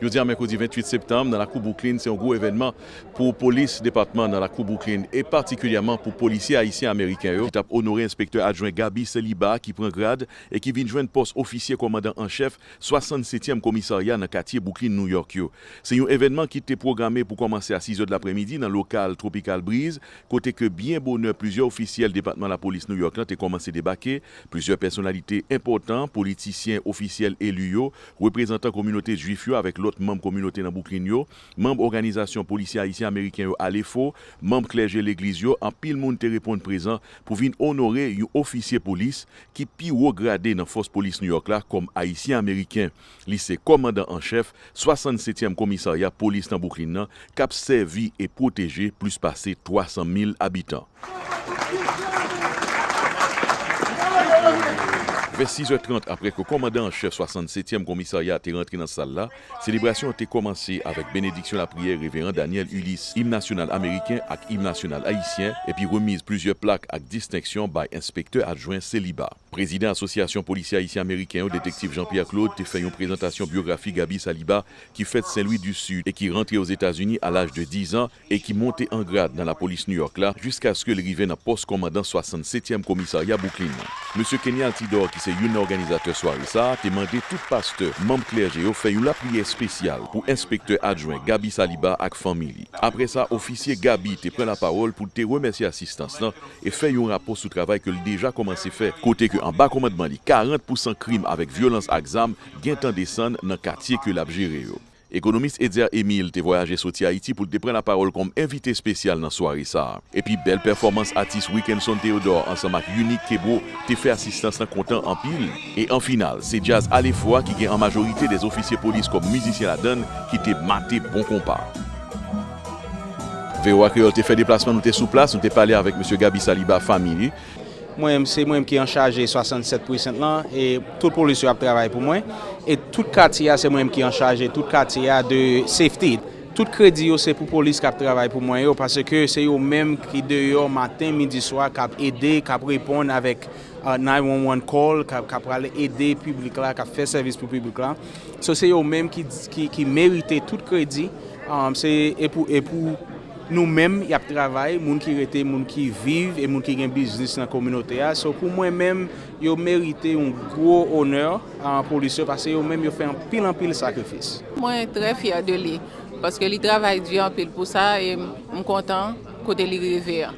Jodi a mèkredi 28 septanm nan lakou Bwouklin se yon gwo evènman pou polis depatman nan lakou Bwouklin e patikilyèman pou polisye ayisyen ameriken yo ki tap onore enspektè adjwen Gaby Celibat ki pran grad e ki vin jwenn pòs ofisye kòmandan an chèf 67 tyèm komisarya nan katye Bwouklin Nouyòk yo. Se yon evènman ki te pwograme pou kòmanse a 6 zè dlapremidi nan lokal Tropical Breeze kote ke byen bonè plizyè ofisyèl depatman lapolis Nouyòk lan te kòmanse debake, plizyè pèsonalite enpòtan, politisyen, ofisyèl eli yo, reprezantan kominote Juif yo avèk lòt manm kominote nan Bwouklin yo, manm òganizasyon polisye Ayisyen-Ameriken yo Alefo, manm klèje legliz yo, anpil moun te reponn prezan pou vin onore yon ofisye polis ki pi wo grade nan fòs polis New York la kòm Ayisyen-Ameriken. Li se kòmandan an chèf 60 setyèm komisarya polis nan Bwouklin nan k ap sèvi e pwoteje plis pase 300 mil abitan. Vè 6 è 30 aprè ke kòmandan an chèf 67 èm komisarya a te rantre nan sal la, selebrasyon an te kòmanse avèk benediksyon lapriyè Reveran Daniel Ulysse, im nasyonal ameriken ak im nasyonal ayisyen, epi remiz plizyè plak ak distenksyon bay enspektè adjwen Celiba. Prezidan Asosyasyon Polisye Ayisyen-Ameriken yo, Detektiv Jean Pierre Claude, te fè yon prezantasyon byografi Gaby Saliba ki fèt Sen Lwi di Sid e ki rantre Ozetazini a laj de 10 an, e ki monte an grad nan lapolis New York la jiskaske l rive nan pòs kòmandan 67 tyèm komisarya Bwouklin nan. Mesye Kenny Altidor ki se youn nan òganizatè sware sa a te mande tout pastè, manm klèje yo fè yon lapriyè espesyal pou enspektè adjwen Gaby Saliba ak fanmi li. Aprè sa, ofisye Gaby te pran lapawòl pou l te remèsye asistans lan e fè yon rapò sou travay ke l deja kòmanse fè, kote ke anba kòmandman li 40 pousan krim avèk vyolans ak zam gentan desann nan katye ke l ap jere yo. Ekonomis Etzer Emile te vwayaje soti Ayiti pou l te pran lapawòl kòm envite espesyal nan sware sa. Epi bèl pèfòmans atis Wickenson Theodore ansanm ak Unique Kebreau te fè asistans lan kontan anpil. E an final, se djaz Alefwa ki gen an majorite 2 ofisye polis kòm mizisyen ladann ki te mate bon konpa. Voa Kreyòl te fè deplasman, nou te sou plas, nou te pale avèk Mesye Gaby Saliba, fanmi li. Mwen menm se mwen menm ki anchaje 67 precinct lan e tout polis yo ap travay pou mwen e tout katye a se mwen menm ki anchaje tout katye a de safety. Tout kredi yo se pou polis kap travay pou mwen yo paske se yo menm ki deyò maten midi swa kap ede kap reponn avèk 911 call kap pral ede piblik la kap fè sèvis pou piblik la so se yo menm ki merite tout kredi se e pou. Nou menm y ap travay, moun ki rete, moun ki viv e moun ki gen biznis nan kominote a. So pou mwen menm, yo merite yon gwo onè, polis yo, pase yo menm yo fè anpil anpil sakrifis. Mwen trè fyè de li, paske li travay di anpil pou sa e m kontan kote li rive an.